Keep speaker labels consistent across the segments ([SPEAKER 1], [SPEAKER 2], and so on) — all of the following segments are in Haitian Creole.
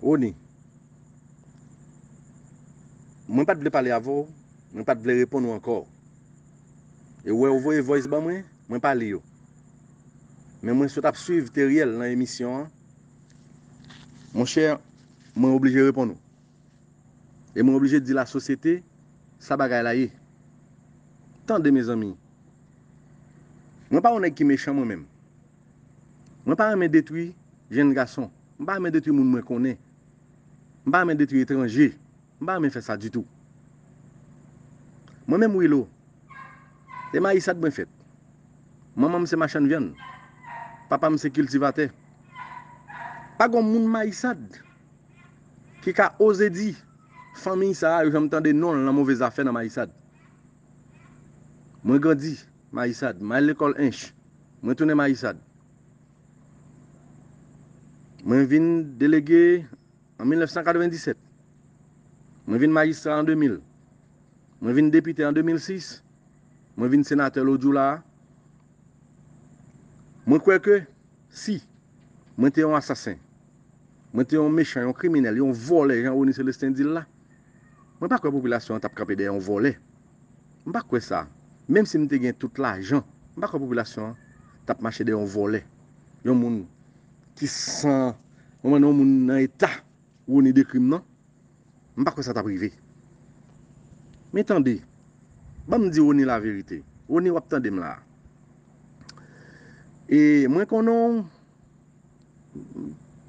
[SPEAKER 1] Rony. Mwen pat vle pale avè w, mwen pat vle reponn ou ankò. E wè ou voye voice ban mwen, mwen pa li yo. Men mwen sot ap swiv Theriel nan emisyon an. Mon cher, mwen oblije reponn ou. E mwen oblije di la sosyete sa bagay la ye. Tande mezanmi. Mwen pa yon nèg ki mechan mwen menm. Mwen pa renmen detwi jenn gason. M pa renmen detwi moun mwen konnen. M pa renmen detwi etranje. M pa renmen fè sa ditou. Mwen menm Willow, e mayisad mwen fèt. Manman m se machann vyann. Papa m se kiltivatè. Pa gon moun mayisad ki ka oze di fanmiy sa a yo janm tande non l nan move zafè nan mayisad. Mwen grandi Mayisad. M al lekòl Ench. Mwen tounen Mayisad. Mwen vin delege an 1997. Mwen vin majistra an 2000. Mwen vin depite an 2006. Mwen vin senatè lodjou la a. Mwen kwè ke si mwen te yon asasen, mwen te yon mechan, yon kriminèl, yon vòlè jan Rony Celestin di l la, Mwen pa kwè popilasyon an t ap kanpe dèyè yon vòlè. M pa kwè sa. Menm si m te gen tout lajan, m pa kwè popilasyon an t ap mache dèyè yon vòlè. Yon moun ki san, konprann, yon moun nan eta Rony dekri m nan, m pa kwè sa t ap rive. Men tande, ban m di Rony laverite. Rony, w ap tande m la a. E mwen konnen w,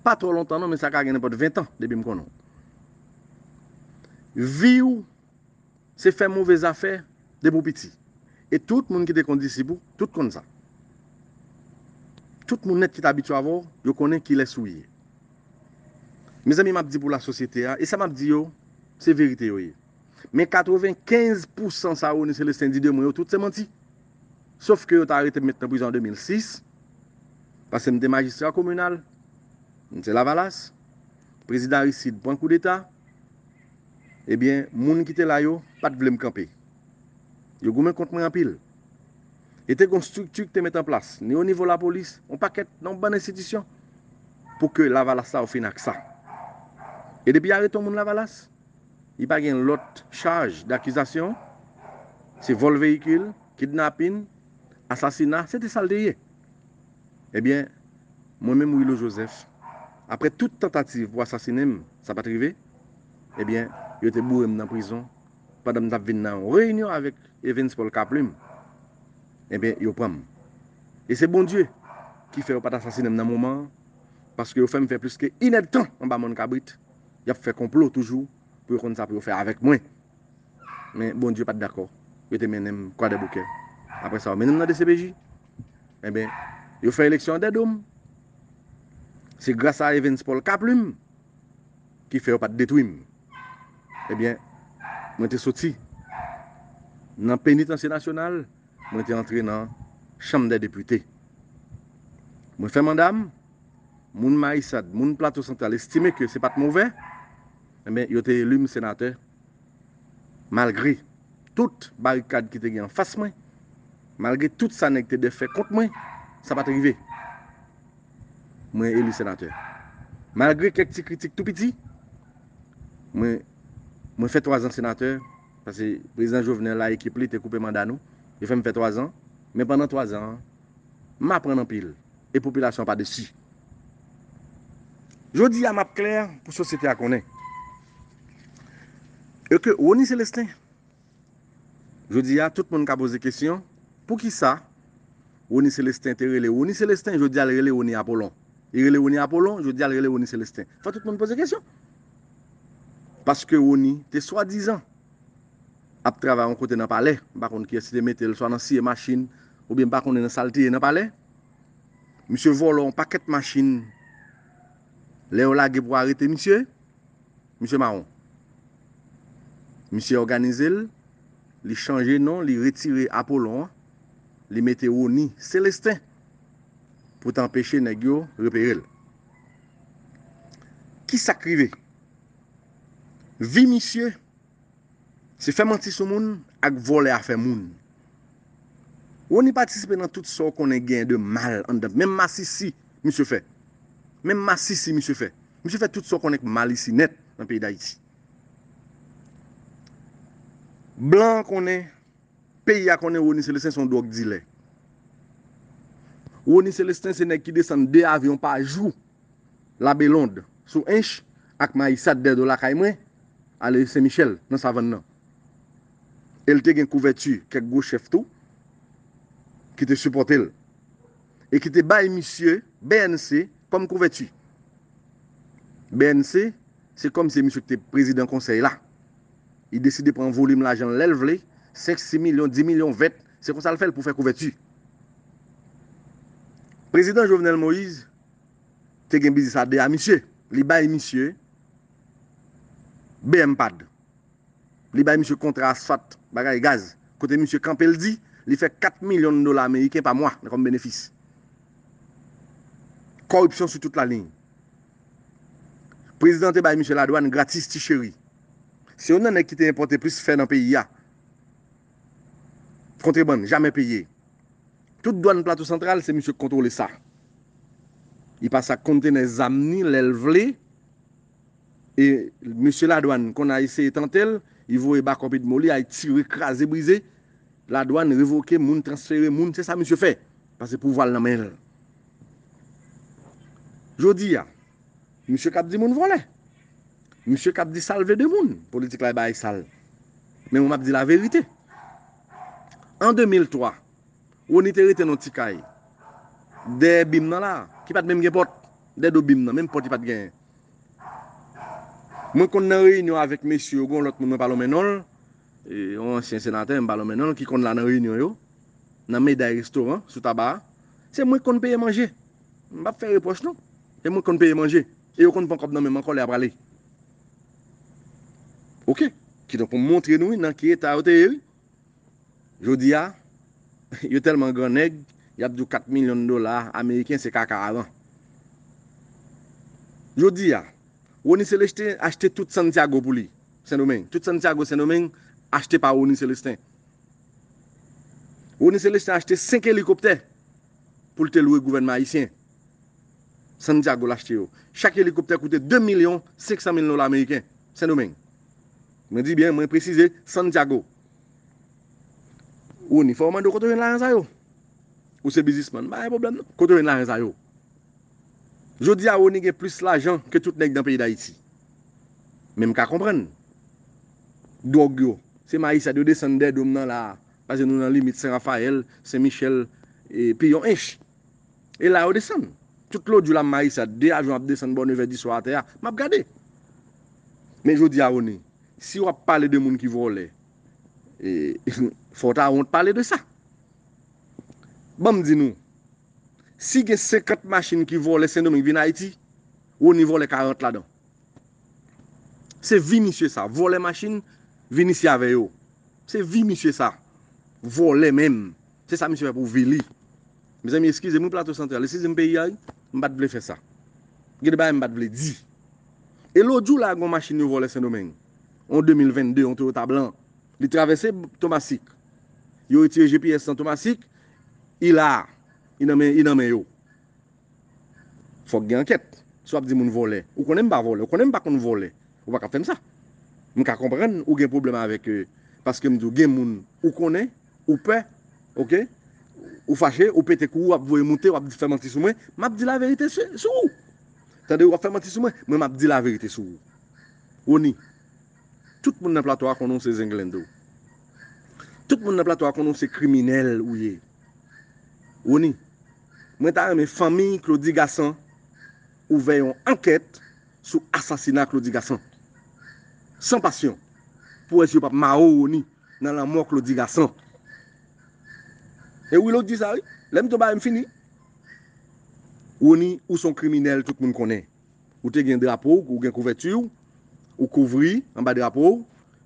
[SPEAKER 1] pa twò lontan non men sa ka gen nenpòt 20 tan depi m konnen w. Vi w se fè move zafè depi w piti. E tout moun ki te konn disip ou, tout konn sa. Tout moun nèt ki t abitye avè w, yo konnen kilès ou ye. Mezanmi m ap di pou lasosyete a, e sa m ap di yo, se verite yo ye. Men 95 pousan sa Rony Celestin di de mwen yo, tout se manti. sof ke yo ta arete m met nan prizon an 2006, paske m te majistra kominal, m se lavalas, prezidan Aristide pran koudeta, ebyen moun ki te la yo pa t vle m kanpe. Yo goumen kont mwen anpil. E te gen yon strikti ki te met an plas, ni o nivo lapolis, yon pakèt, yon bann enstitisyon, pou ke lavalas sa yo fini ak sa. E depi yo arete yon moun lavalas, Li pa gen lòt chaj dakizasyon, se vòl veyikil, kidnapin, asasina, se te sa l te ye. Ebyen, mwen menm Wilo Jozèf, aprè tout tantativ pou asasinen m, sa pa t rive, ebyen, yo te boure m nan prizon pandan m t ap vin nan yon reyinyon avèk Evens Pòl Kaplim, ebyen, yo pran m. E se Bondye ki fè yo pa t asasinen m nan moman an, paske yo fè m fè plis ke inèdtan anba mòn kabrit. yap fè konplo toujou pou yo konn sa pou yo fè avèk mwen. Men Bondye pat dakò, yo te mennen m Kwadèboukè. Aprè sa yo mennen m nan dcpj. Enben, yo fè eleksyon an dè do m. Se gras a Evens Paul Kaplume ki fè yo pat detwi m. Ebyen, mwen te soti nan Penitansye Nasyonal, mwen te antre nan Chanm dè Depite. Mwen fè manda m. moun Mayisad, moun Plato Santral estime ke se pat move, enben yo te eli m senatè malgre tout barikad ki te gen anfas mwen, malgre tout sa nèg te defè kont mwen, sa pat rive. Mwen eli senatè. Malgre kèk ti kritik tou piti, mwen mwen fè twazan senatè, pase Prezidan Jovenel a ekip li te koupe manda nou, yo fè m fè twazan, men pandan twazan an, M aprann anpil e popilasyon an pa desi. Jodi a m ap klè pou sosyete a konnen e ke Rony Celestin jodi a tout moun ka poze kesyon poukisa Rony Celestin te rele Rony Celestin jodi a l rele Rony Apollon li rele Rony Apollon jodi a l rele Rony Celestin fò tout moun poze kesyon paske Rony te swadizan. ap travay yon kote nan palè, m pa konn kiyès ki te mete l, swa nan siye machin, oubyen m pa konnen nan sa l te ye nan palè. Misye vòlò yon pakèt machin, lè yo lage pou arete misye, misye mawon. Misye òganize l, li chanje non, li retire Apolon an, li mete Rony Celestin pou ta anpeche nèg yo repere l. Ki sa k rive? Vi misye se fè manti sou moun ak vòlè afè moun. Rony patisipe nan tout sa w konnen genyen de mal anndan menm masisi misye fè. Menm masisi misye fè. Misye fè tout sa w konnen k mal isi nèt nan peyi Dayiti. Blan an konnen, peyi a konnen Rony Celestin se yon dwòg dilè. Rony Celestin se nèg ki desann 2 avyon pa jou Labelonde sou Hinche ak Mayisad dèdo lakay mwen, ale Sen Michèl nan Savann nan. E l te gen kouvèti kèk gwo chèf tou ki te sipòte l e ki te bay misye BNC kòm kouvèti. BNC, se kòm se misye ki te prezidan konsèy la. Li deside pran volim lajan l lè l vle, senk, si milyon, di milyon, vent, se konsa l fè l pou fè kouvèti. Prezidan Jovenel Moïse te gen biznis a 2 a misye li bay misye bmpad li bay misye kontra asfat bagay gaz kote misye kanpe l di li fè 4 milyon dola ameriken pa mwa nan kòm benefis kòripsyon sou tout la liy prezidan te bay misye ladwàn gratis ti cheri se youn nan nèg ki te enpòte plis fè nan peyi a. Kontrebann jamè peye. Tout dwann Plato Santral se misye k kontwole sa. Li pase ak kontenè zam ni lè l vle e mesye ladwann konn a eseye tante l, li voye bakòp edmo li ay tire kraze brize, ladwann revoke moun transfere moun se sa misye fè pase pouvwa l nan men l. Jodi a, misye k ap di moun vòlè. Misye kap di sal vle de moun, politik la e bagay sal. Men mwen map di la verite. An 2003, Rony te rete nan yon ti kay, dèyè bim nan la, ki pat menm gen pòt, dèyè do bim nan, menm pòt li pat genyen. Mwen konn nan reyinyon avèk mesye yo, gen yon lòt moun mwen pa lonmen non l, yon ansyen senatè, m pa lonmen non l, ki konn la nan reyinyon yo, nan Meday restoran, sou Taba a. Se mwen ki konn peye manje. M pap fè repwòch non. Se mwen ki konn peye manje. E yo konn pran kòb nan menm ankò lè ya prale ok kidonk pou montre nou wi nan ki eta yo te ye wi jodia yo tèlman gran nèg yap diw 4 milyon dola ameriken se kaka aran jodia Rony Celeste achte tout Santiago pou li sendomeng tout Santiago sendomeng achte pa Rony Celeste Rony Celeste achte 5 elikoptè poul te lwe gouvènman ayisyen Santiago l achte yo. Chak elikoptè koute 2 milyon 500 mil dola meriken. Sendomeng. Mwen di byen, mwen presize, Santiago. Ou ni fè w mande w kote w jwenn lajan sa yo. Ou se bizisman, m pa gen pwoblèm non. Kote w jwenn lajan sa yo? Jodi a Rony gen plis lajan ke tout nèg nan peyi Dayiti. Men m ka konprann. Dwòg yo. Se Mayisad yo desann Dèdom nan la a. Pase nou nan limit Sen Rafayèl, Sen Michèl, e pi yon ench. E la yo desann. Tout lòt jou la m Marisa, 2 avyon ap desann bò nevè diswa atè a, m ap gade. Men jodi a Rony, si w ap pale de moun ki vòlè, fò w ta wont pale de sa. Ban m di nou, si gen 50 machin ki vòlè Sendomeng vin Ayiti, Rony vòlè 40 ladan. Se vi misye sa, vòlè machin, vin isi avè yo. Se vi misye sa. Vòlè menm. Se sa misye fè pou vi li. Mezanmi eskize m wi plato santral, eskize m peyi a wi, m pat vle fè sa. Gen de bagay m pat vle di. E lôt jou la gon machin yo vòlè sendomeng, yon 2022 yon toyota blan, li travèse tomasik, yo retire gps lan tomasik, I la, I nan men, I nan men yo. Fòk gen ankèt, si wap di moun vòlè, ou konnen m pa vòlè, ou konnen m pa konn vòlè, ou pa ka fè m sa. M ka konprann ou gen pwoblèm avèk, paske m di w gen moun ou konnen. Ou pè ok Ou fache ou pete kou ou ap voye moute wap fè manti sou mwen map di laverite sou ou tande wap fè manti sou mwen mwen map di laverite sou ou Rony tout moun nan plato a konnen w se zenglendo tout moun nan plato a konnen w se kriminèl ou ye Rony mwen ta renmen fanmiy Claudy Gassant ouvè yon ankèt sou asasina Claudy Gassant san pasyon pou wè si yo pap mare w Rony. nan lanmò Claudy Gassant. E wi lòt di sa wi. Lè m tonbe a m fini. Rony ou son kriminèl tout moun konnen. Ou te gen drapo w, ou gen kouvèti w, ou kouvri anba drapo w,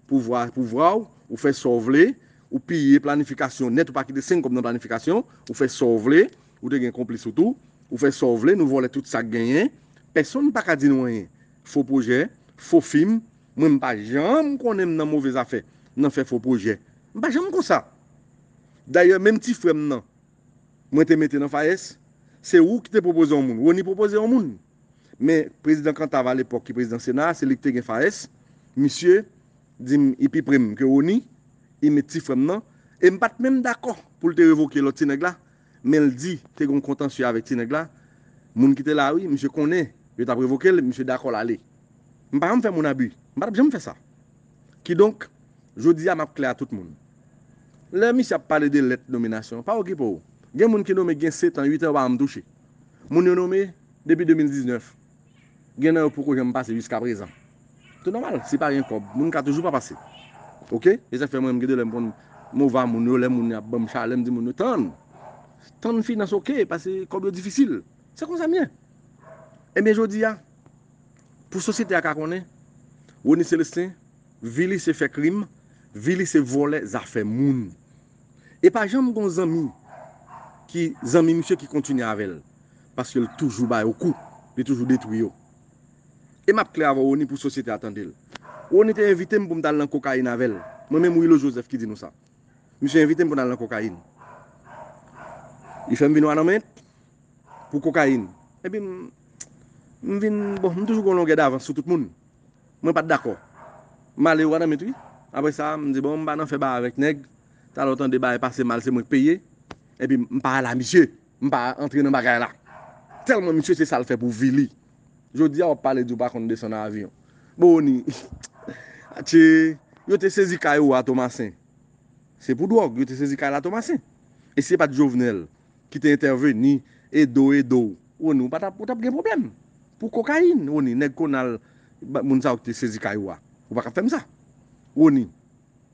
[SPEAKER 1] pouvwa a pouvwa w, ou fè sa w vle, ou piye planifikasyon nèt ou pa kite 5 kòb nan planifikasyon, ou fè sa w vle, ou te gen konplis ou tou, ou fè sa w vle, nou vòlè tout sa k genyen, pèsonn pa ka di nou anyen. Fo pwojè, fo fim. Mwen m pa janm konnen m nan move zafè, nan fè fo pwojè. M pa janm konsa. Dayè menm ti frè m nan mwen te mete nan FAES, se ou ki te pwopoze yon moun. Rony pwopoze yon moun. Men prezidan Kantav alepòk ki prezidan sena a, se li ki te gen FAES. Misye di m li pi pre m ke Rony, li met ti frè m nan. E m pa t menm dakò pou l te revoke lòt ti nèg la, menl di te gon kontansye avèk ti nèg la moun ki te la wi misye konnen yo tap revokel misye dakò lale m pa janm fè moun abi m patap janm fè sa kidonk jodi a map klè a tout moun lè misye ap pale de lèt nominasyon pa okipe w gen moun ki nome gen setan uitan yo pa janm touche moun yo nome depi 2019. Gen nan yo poko janm pase jiska prezan. Se nòmal, si pa gen kòb, moun ka toujou pa pase. Ok. Se sak fè mwen menm gen de lè m konn mova moun yo, lè moun yo ap banm chalè m di moun yo tann. Tann finans ok, pase kòb yo difisil. Se konsa m ye. Ebyen jodi a, pou sosyete a ka konnen, Rony Celestin, vi li se fè krim, vi li se vòlè zafè moun. E pa janm gon zanmi ki zanmi misye ki kontinye avèl paske l toujou ba yo kou, li toujou detwi yo. E map klè avèw Rony pou sosyete a tandel. Rony te envitem poum tal nan kokayin avèl, mwen menm Willo Joseph ki di nou sa. Misye envitem pou nal nan kokayin. Li fèm vin wanament pou kokayin. Epi m vin bon m toujou gon longè davans sou tout moun. Mwen pat dakò. Malere w ananmit wi. Apre sa, m di bon m pa nan fè bagay avèk nèg. Talè w tande bagay pase mal se mwen k peye. Epi m pa al a misye. M pa antre nan bagay la. Tèlman misye se sa l fè pou vi li. Jodi a w ap pale di w pa konn desann avyon. Boni, atche, yo te sezi kay ou a Tomasen. Se pou dwòg yo te sezi kay la Tomasen. E si e pat Jovenel, ki te entèveni edo edo w Rony ou pa tap ou tap gen pwoblèm pou kokayin Rony nèg konal moun sa yo ki te sezi kay ou a ou pa ka fèm sa Rony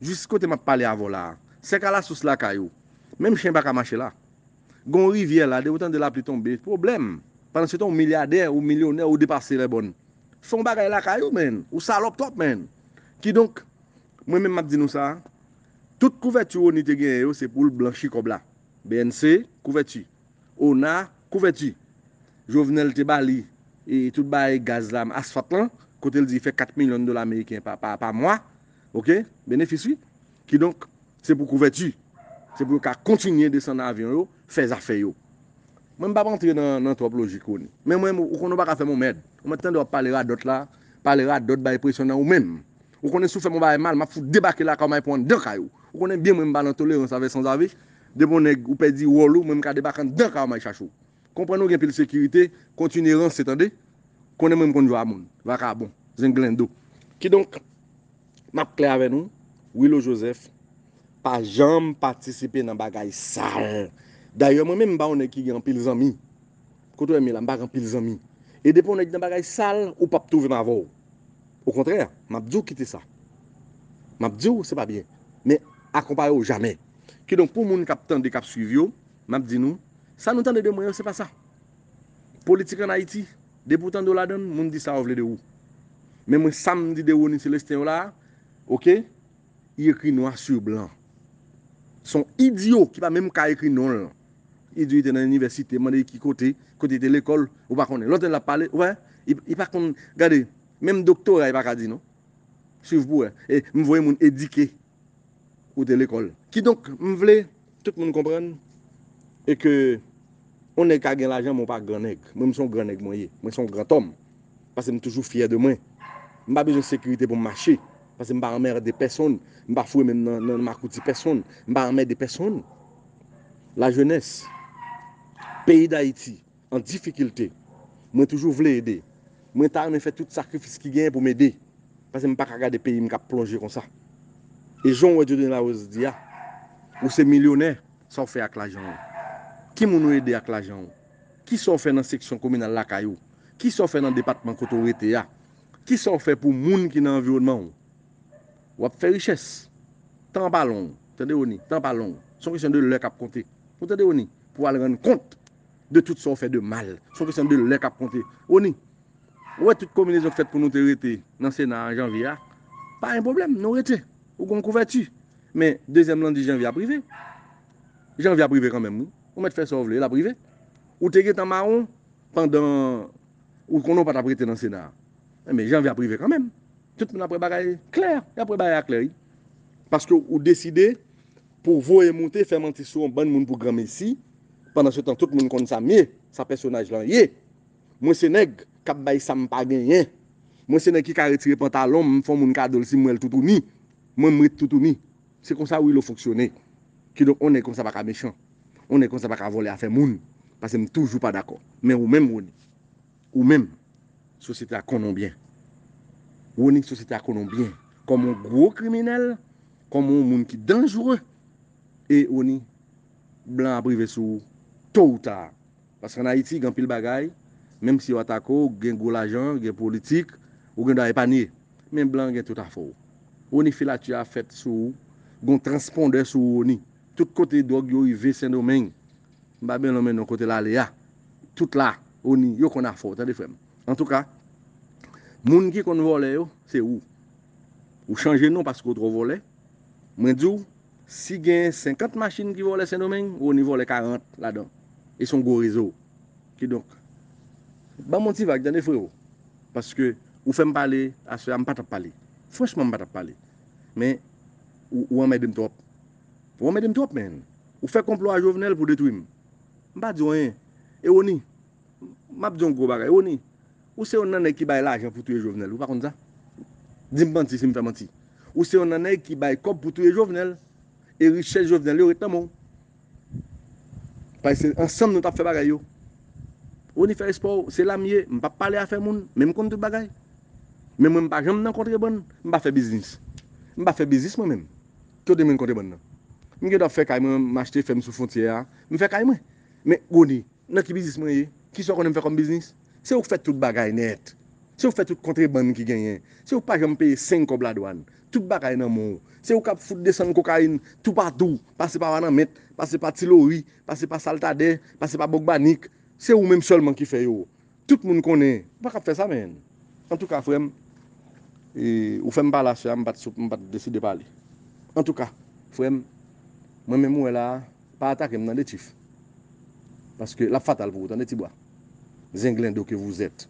[SPEAKER 1] jis kote map pale avè w la a se kalasous lakay ou menm chen paka mache la gon rivyè la depi w tande lapli tonbe pwoblèm pandan se tan ou milyadè ou milyonè ou depase lèbòn fè yon bagay lakay ou menn ou salòp twòp menn kidonk mwen menm map di nou sa a tout kouvèti Rony te genyen yo se pou l blanchi kòb la BNC, Kouvèti. Ona, Kouvèti. Jovenel te ba li tout baay gaz la, asfalt lan, kote l di fè 4 milyon dola meriken pa mwa, ok, benefis wi. Kidonk, se pou kouvèti. Se pou yo ka kontinye desann avyon yo, fè zafè yo. Mwen m pa p antre nan twòp lojik ou. Men mwen, ou konnen ou pa ka fè m yon mèd. Ou mèt tande w ap pale radòt la, pale radòt bay presyon nan ou menm. Ou konnen si w fè m yon bagay mal, m ap fout debake lakay w, m ale pran w anndan kay ou. Ou konnen byen mwen m pa nan tolerans avè sanzave. Depi yon nèg ou pèdi wòl ou, mwen m ka debake anndan kay w m ale chache w. Konprann ou gen pil sekirite, kontinye ranse tande. Konnen mwen m konn jwa moun. Vakabon. Zenglendo. Kidonk, m ap klè avè nou, Wilo Jozèf pa janm patisipe nan bagay sal. Dayè mwen menm m pa yon nèg ki gen anpil zanmi. Kote w wè m ye la, m pa gen anpil zanmi. E depi yon nèg nan bagay sal, ou p ap twouve m avè w. Okontrè, m ap di w kite sa. M ap di w se pa byen. Men, akonpaye w jamè. Kidonk, pou moun k ap tande, k ap suiv yo, m ap di nou, sa nou tande de mwen yo, se pa sa. Politik ann Ayiti, depi w tande w ladan l, moun di sa yo vle de ou. Men mwen, sa m di de Rony Celestin yo la a, oke, li ekri nwa su blan. Son idyo ki pa menm ka ekri non l. Idyo te nan inivèsite, mande ki kote, kote li te lekòl, ou pa konnen. Lòt lè l ap pale, ou pa wè, li pa konn, gade, menm doktora li pa ka di non. Swiv pou wè. E m voye moun edike ou te lekòl. Kidonk, m vle. Tout moun konprann e ke yon nèg ka gen lajan men w pa gran nèg. Mwen m se yon gran nèg mwen ye. Mwen se yon grantòm pase m toujou fyè de mwen. M pa bezwen sekirite pou m mache pase m pa anmerde pèsonn. M pa foure men m nan makouti pèsonn. M pa anmède pèsonn. Lajenès peyi Dayiti an difikilte. Mwen toujou vle ede. Mwen ta renmen fè tout sakrifis ki genyen pou m ede. Pase m pa ka gade peyi m k ap plonje konsa. E jan w wè Dieudonné Larose di a, ou se milyonè, sa w fè ak lajan w? Ki moun ou ede ak lajan w? Ki sa w fè nan seksyon kominal lakay ou? Ki sa w fè nan depatman kote w rete a? Ki sa w fè pou moun ki nan anviwonnman w? W ap fè richès. Tan an pa long, tande Rony, tan an pa long. Se yon kesyon de lè k ap konte. Ou tande Rony? Pou w al rann kont de tout sa ou fè de mal. Se yon kesyon de lè k ap konte. Rony, ou wè tout konbinezon k fèt pou nou te rete nan Sena an janvye a, pa gen pwoblèm, nou rete. Ou gen yon kouvèti. Men, dezyèm lan di janvye ap rive. Janvye ap rive kanmenm wi. Ou mèt fè sa ou vle, l ap rive. Ou te gen tan mawon pandan ou konnen ou pa t ap rete nan Sena a. Men, janvye ap rive kanmenm. Tout moun ap wè bagay klè. Y ap wè bagay a klè wi. Paske ou deside. Pou voye moute fè manti sou yon bann moun pou granmesi, pandan se tan tout moun konn sa m ye, sa pèsonaj lan ye. Mwen se nèg k ap bay sa m pa genyen. Mwen se nèg ki ka retire pantalon m, m fè yon moun kado l si m wè l toutouni. Mwen m ret toutouni. Se konsa Willow fonksyone. Kidonk yon nèg konsa pa ka mechan. Yon nèg konsa pa ka vòlè afè moun. Pase m toujou pa dakò. Men ou menm Rony. Ou menm, sosyete a konnen w byen. Rony, sosyete a konnen w byen kòm yon gwo kriminèl, kòm yon moun ki danjre. E Rony, blan ap rive sou ou to ou ta. Paske an Ayiti, gen anpil bagay, menm si yo atake w, gen gwo lajan, gen politik, ou gen dwa epanye. Men blan gen tout afè w. Rony, filati a fèt sou ou. Gen yon transpondè sou ou Rony. Tout kote dwòg yo rive Sendomeng, M pa byn lonmen non kote l ale a tout la oni yo konn afè w tande frè m antouka moun ki konn vòlè yo se ou ou chanje non paske w twò vòlè mwen di w si gen 50 machin ki vòlè sendomeng oni vòlè 40 ladan e son gwo rezo kidonk banm on ti vag tande freo paske ou fè m pale aswè a m pa tap pale franchman m pa tap pale men ou anmède m twòp. Ou anmède m twòp menn. Ou fè konplo a Jovenel pou detwi m. M pa di w anyen. E Rony, m ap di w yon gwo bagay. Rony, ou se yon nan nèg ki bay lajan pou touye Jovenel. Ou pa konn sa? Di m manti si m fè manti. Ou se yon nan nèg ki bay kòb pou touye Jovenel. E richès Jovenel yo ret nan men w. Paske se ansanm nou t ap fè bagay yo. Rony fè espò w. Se la m ye. M pa pale afè moun. Men m konn tout bagay. Men mwen m pa janm nan kontrebann. M pa fè biznis. M pa fè biznis mwen menm. Kote mwen konte bann nan. M gentan fè kay mwen, m achte fèm sou fontyè a, m fè kay mwen. Men, Rony, nan ki biznis mwen ye? Kisa w konnen m fè kòm biznis? Se ou k fè tout bagay nèt. Se ou k fè tout kontrebann ki genyen. Se ou k pa janm peye seng kòb ladwann. Tout bagay nan men w. Se ou k ap fout desann kokayin toupatou, pase pa Wananment, pase pa Tilori, pase pa Saltadè, pase pa Bogbanik. Se ou menm sèlman ki fè yo. Tout moun konnen ou pa kab fè sa menn. Antouka frèm ou fèm pale aswè a m pat deside pale. Antouka frèm mwen menm ou wè la a pa atakem tande chief paske lap fatal pou ou tande ti bwa zenglendo ke vous êtes.